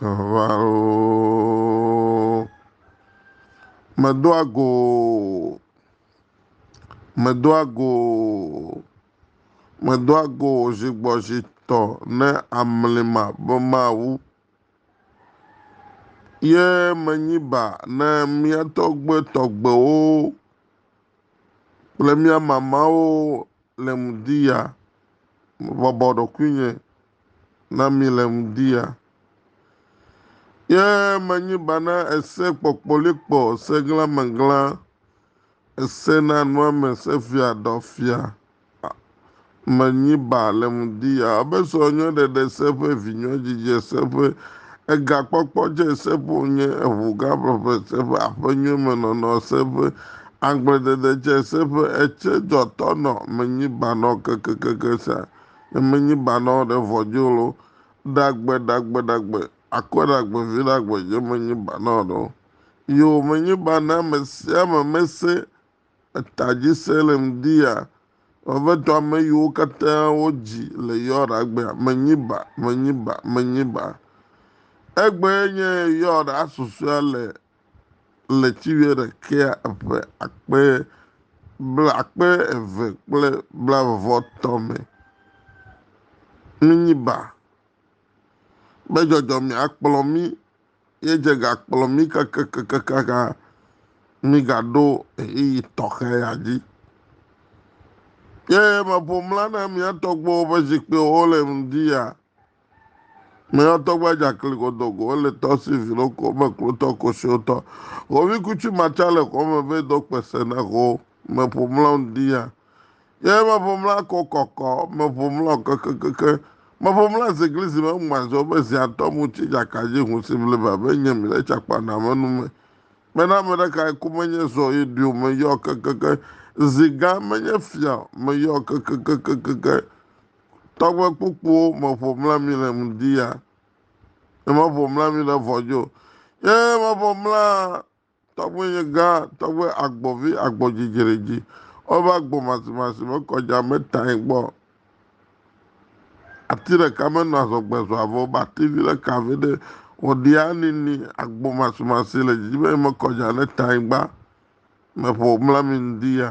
Vavãroo, medoa go o, medoa go o, medoa go o zigbɔzitɔ ne amlima be mawu, ye menyi ba ne mía tɔgbuitɔgbuiwo kple mía mamawo. Le ŋdiya. Mebɔbɔ ɖokuinye na mi le ŋdiya. Ye menyi bana ese kpɔkpɔlikpɔ, ese glãmeglã, ese na nɔame, ese fia dɔ fia. Menyi ba le ŋdiya. Ebe sɔ nyɔ ɖeɖe se ƒe vi nyɔ dzidze se ƒe ega kpɔkpɔ dze se ƒo nye eŋu gã ƒeƒe se ƒe aƒe nyɔ me nɔnɔ se ƒe Agbledede tsɛ se ƒe etsɛ dzɔ tɔ nɔ menyi banɔ kekekeke sa, ne menyi banɔ ɖe vɔ djo lo, ɖagbe, ɖagbe, ɖagbe, akɔ ɖagbe vi ɖagbe dje menyi banɔ ɖo. Yoo, menyi banɔ ame sia ame me se eta dji se le ŋdi ya. Vavɛtɔ ame yiwo katã wo dji le yɔ ɖagbea, menyi ba, menyi ba, menyi ba. Egbe nye yɔ ɖa susɔea le le ci wuiɖekɛa ƒe akpe blaakpe eve kple blaeve-vɔ-etɔ̃ me. Minyi ba be dzɔdzɔmea kplɔ mí ye dze gakplɔ mí kakakakaka mígaɖo ɣeyiɣi tɔxɛ ya dzi. Ye meƒo mla na mía tɔgbuiwo ƒe zikpuiwo le ŋdi ya Me yɔtɔ gba dza kli kɔdɔ ko ele tɔ si vi lo ko me klotɔ ko si o tɔ. Ko vi kutsu ma tsa le kɔ me ve do kpe se na ko me ƒo mla un di ya. Ye me ƒo mla ko kɔkɔ me ƒo mla o kekekeke. Me ƒo mla ze gli zi me un gba zo be zia tɔ mu tsi dza ka dzi hun si vli ba be nye mi le tsa kpa na me nu me. Me na me ɖe ka ye ku me nye zo ye di o me yɔ kekeke. Zi gã me nye fia o me yɔ kekekekekeke. Tɔgbe kpukpuwo meƒo mla mi le ŋdi ya. Meƒo mla mi le vɔdzo. Ye meƒo mla tɔgbe nye gã, tɔgbe agbɔvi, agbɔdzidzere dzi. Wobe agbo masimasi me kɔdza me tae gbɔ. Ati ɖeka menɔ azɔgbe zɔa vɔ, wobe ati vi ɖeka vi ɖe wòɖia nini agbo masimasi le dzi be mekɔdza ne tae gba. Meƒo mla mi ŋdi ya.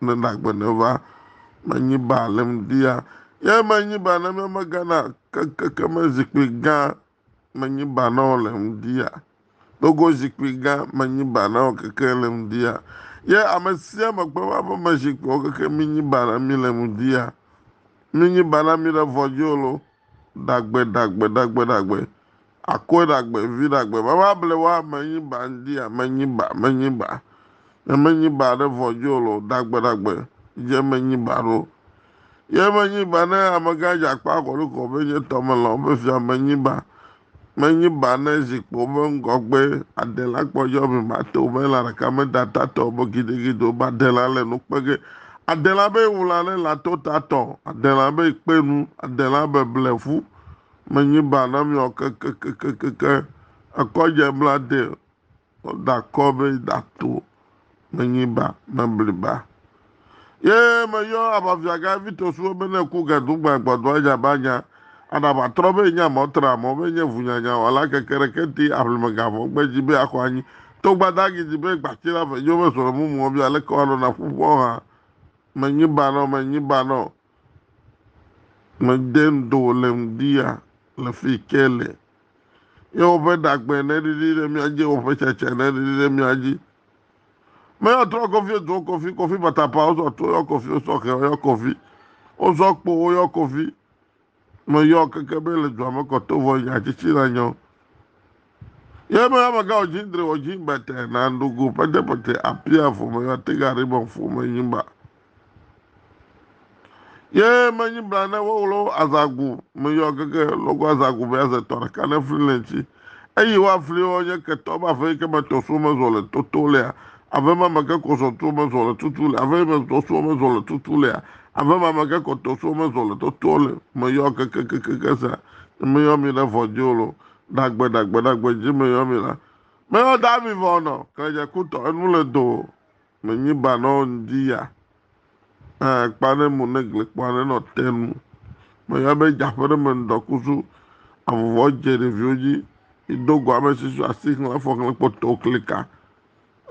Ne nagbe ne va menyi ba le mdia. Ye menyi ba ne me gana keke me zikpui gã menyi ba na o le mdia. Dogo zikpui gã menyi ba na o keke le mdia. Ye ame sia me kpe va be me zikpui o keke menyi ba na mi le mdia. Menyi ba na mi le vɔjolo. Ɖagbe, ɖagbe, ɖagbe, ɖagbe, Akɔe ɖagbe, vi ɖagbe, Vava ble wa menyi ba ŋdi a menyi ba, menyi ba, Ne menyi ba ɖe vɔ dzi o lo, Ɖagbe, ɖagbe, dze menyi ba ɖo. Ye menyi ba ne amegã dze akpa akɔlikɔ be nye tɔ melɔ̃ be fia menyi ba, Menyi ba ne zi kpɔ be ŋgɔgbe adela kpɔ yɔ me ma to be la ɖeka me da ta tɔ bo gidigido ba adela le nu kpege. Adela be wula ne la to ta tɔ, adela be kpe nu, adela be ble fu. Menyi ba na miɔ kekekekekeke ekɔ je bla de Meda akɔ be da to menyi ba mebli ba. Ye meyɔ abavia ga Vito suwe be ne ku ga dugba agbadɔ anya ba nya aɖa ba trɔ be nya mɔ tra mɔ be nye vunyanya wala keke ɖe kenti aƒleme ga vɔ gbe dzi be akɔ anyi to gbada gi dzi be gbatsi la ve nyo be sɔle mumu ɔbi aleke wa lona ƒuƒɔ ha menyi ba nɔ menyi ba nɔ Mede ŋdo wòle ŋdi ya le fi ke le. Ye woƒe ɖagbe neɖiɖi ɖe mía dzi, woƒe tsetse neɖiɖi ɖe mía dzi. Meyɔ trɔ kɔfi edo kɔfi, kɔfi batapa wozɔ to yɔ kɔfi, wozɔ xe yɔ kɔfi, wozɔ kpo woyɔ kɔfi. Meyɔ keke be le dua me kɔto vɔ nya tsitsi nanyɔ. Ye me amega o jin dre o jin bete na ndogo pete pete apia fo me ya te gari bon fo me nyi ba. Ye me nyi bla ne wo wolo azagu me yo keke logo azagu be aze tɔ ɖeka ne fli le ŋtsi. Eyi wa fli wo nye ketɔ ba fe ke me tɔ so me zo le toto le a. Ave ma me ke ko so to me zo le tutu le ave me tɔ so me zo le tutu le a. Ave ma me ke ko to so me zo le toto le me yo keke keke keke sa. Me yo mi le vɔ jolo. Dagbe, dagbe, dagbe dzi me yɔ mi la. Me yɔ da mi vɔ nɔ, kle dze kutɔ, enu le do, me nyi ba nɔ ŋdi ya. Ɛ, kpa ne mu ne gle kpɔ ne nɔ te nu. Me yɔ be dza ƒe ɖe me ŋdɔ kusu, avuvɔ dze ɖeviwo dzi, ido gɔ ame si su asi xlẽ fɔ xlẽ kpɔ to klika.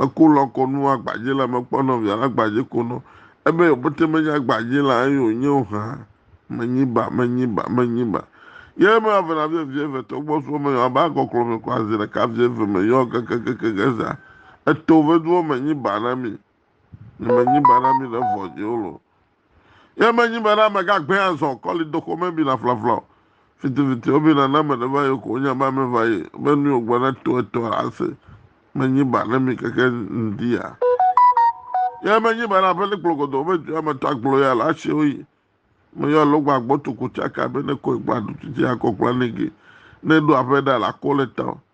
Eko lɔ kɔ nu agbadze la me kpɔ nɔvia la gbadze ko nɔ ebe yo bete me nya gbadze la eyo nye o hã me nyi ba me nyi ba me nyi ba ye me ave na vie vie ve tɔgbɔ suɔ me yɔ abe agɔklɔ me kɔ azi ɖeka vie ve me yɔ kekekeke ke zã eto ve duɔ me nyi ba na mi ne me nyi ba na mi le vɔ dzi o lo Ye menyi be na ame gagbɛ azɔ kɔli doxo me bina flafla o. Fitifiti wobina ne ame ɖe va yi ko wonye be ame va yi be nu wògblɔ ne to eto ase menyi ba ne mi keke ŋdi ya. Ye menyi be na ƒeli kplogodo wobe dua me to aglo ya la si woyi me yɔ lo gba gbɔ to ko tsaka be ne ko gba ɖutu tsi akɔ kpla ne ge ne ɖo aƒe ɖa la ko le ta o.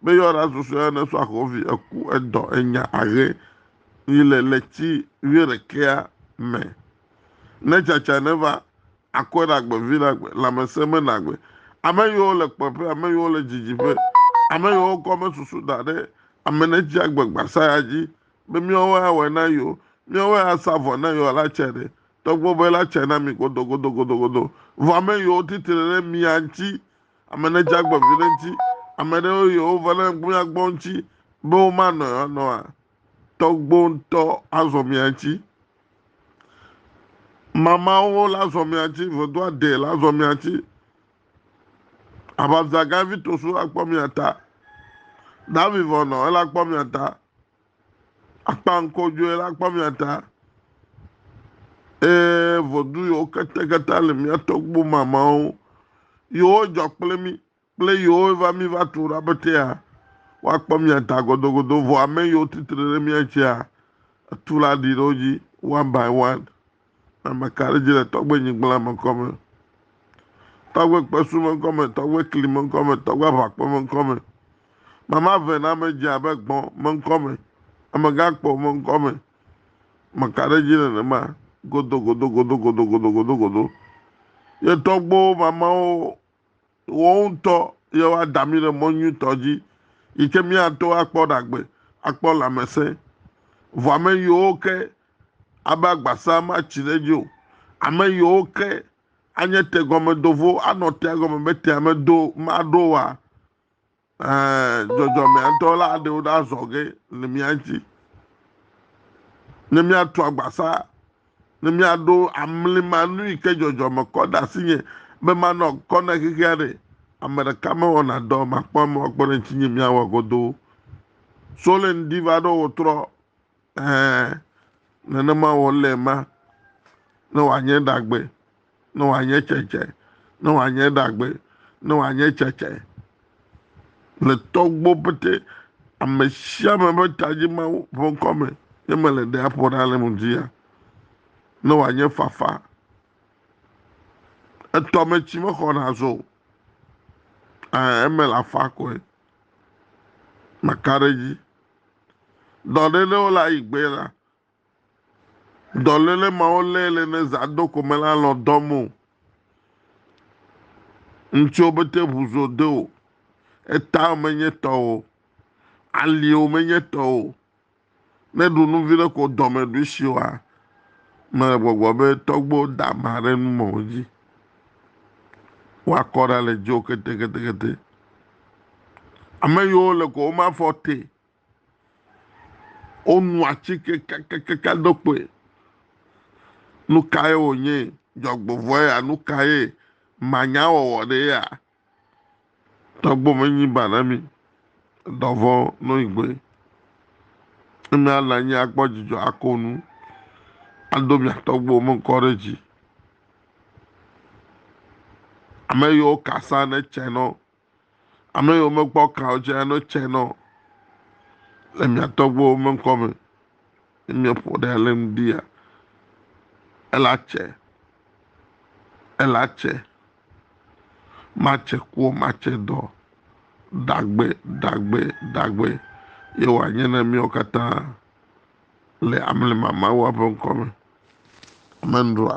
Me yɔ ɖa susɔe ne sɔ akɔvi eku edɔ enya ahe yi le le tsi vi ɖekea me. Ne tsatsa ne va akɔe ɖe agbe vi ɖe agbe lãmesẽ me na agbe. Ame yiwo le kpɔƒe, ame yiwo le dzidziƒe, ame yiwo kɔ me susu da ɖe ame ne tsi agbe gbasa ya dzi be miawo ya wɔ na yiwo, miawo ya sa vɔ na yiwo la tse ɖe. Tɔgbe be la tse na mi godogodogodogodo. Vɔ ame yiwo titri ɖe mia ŋtsi Ame ne dza gbɔ viɖe ŋti ame ɖewo yi wo va ne gbunya gbɔ ŋti be wo ma nɔ ya nɔa tɔgbo ŋtɔ azɔ mia ŋti mamawo la zɔ mia ŋti vedo ade la zɔ mia ŋti ababza gavi tosu la kpɔ mia ta davi vɔ nɔ ela kpɔ mia ta. Akpa ŋkɔdzɔe la kpɔ mia ta. Ee, ʋɔdu yewo keteketa le mia tɔgbu mamawo. Yewo dzɔ kple mi, kple yewo va mi va tu ɖa be tea. Woakpɔ mia ta godogodo, vɔ ame yewo titre ɖe mia tsia, etu la ɖi ɖe wo dzi, one by one. Ame ka ɖe dzi le tɔgbe nyigblã me ŋkɔ me, tɔgbe kpesu me ŋkɔ me, tɔgbe kli me ŋkɔ me, tɔgbe aʋakpe me ŋkɔ me? Mama ve na me dze abe gbɔ̃ me ŋkɔ me, amegãkpo me ŋkɔ me. Ame ka ɖe dzi nenema? Godogodogodogodogodogodo. Ye tɔgbewo mamawo Woawo ŋutɔ ye woada mí ɖe mɔ nyuitɔ dzi yi ke míato akpɔ ɖagbe, akpɔ lãmesẽ. Vɔ ame yiwo ke abe agbasaa matsi ɖe edzi o. Ame yiwo ke anye tegɔmedovo, anɔ tea gɔme be tea medo, maɖo oa, Dzɔdzɔmeadɔla aɖewo ɖe azɔ ge le mía dzi, ne míatu agbasa, ne míaɖo amlima nu yi ke dzɔdzɔme kɔ ɖe asinye be manɔ kɔ na xexi aɖe. Ame ɖeka mewɔna dɔ makpɔ ame wakpɔ ɖe ŋutinye míawɔ godoo. Solen diva ɖo wòtrɔ Ɛ̃, nenema wòle ema, ne wòanye ɖagbe, ne wòanye tsetse, ne wòanye ɖagbe, ne wòanye tsetse. Le tɔgbuiwo pete, ame sia ame ƒe ta dzi Mawu ƒe ŋkɔ me ye mele ɖe aƒo ɖa le mo dzi ya. Ne wòanye fafa, etɔ me tsi mexɔna azɔ o. Ɛ̃, eme le afa koe. Maka ɖe edzi. Dɔléle wo le ayi gbee la, dɔléle mawo lé le ne zã do ko mele alɔ̃ dɔm o. Ŋtsiwo bete ŋu zo de o, etawo menye tɔ o, aliwo menye tɔ o. Ne ɖu nu viɖe ko dɔme ɖui si oa, mele gbɔgbɔ be tɔgbuiwo da ama ɖe nu mawo dzi. woakɔ ɖa le dzo keteketekete. Ame yiwo le ko wome afɔ te o. Wonu atike kakakaka do kpoe. Nu kae wònye? Dzɔgbevɔ̃e ya? Nu kae? Manyawɔwɔ ɖee ya? Tɔgbo me nyi ba na mi, dɔvɔ no igbe. Eme ala anyi akpɔ dzidzɔ ako nu, ado mia tɔgbo me ŋkɔ ɖe dzi. Ame yiwo kasa ne tse nɔ, ame yiwo mekpɔ kawo tse ne tse nɔ le mia tɔgbo me ŋkɔ me. Ne mia ƒo ɖe le ŋdi ya, ela tse, ela tse. Matse kua matse dɔ dagbe dagbe dagbe ye wòanye na míawo katã le amlima Mawua ƒe ŋkɔ me. Amen. Ɖoa?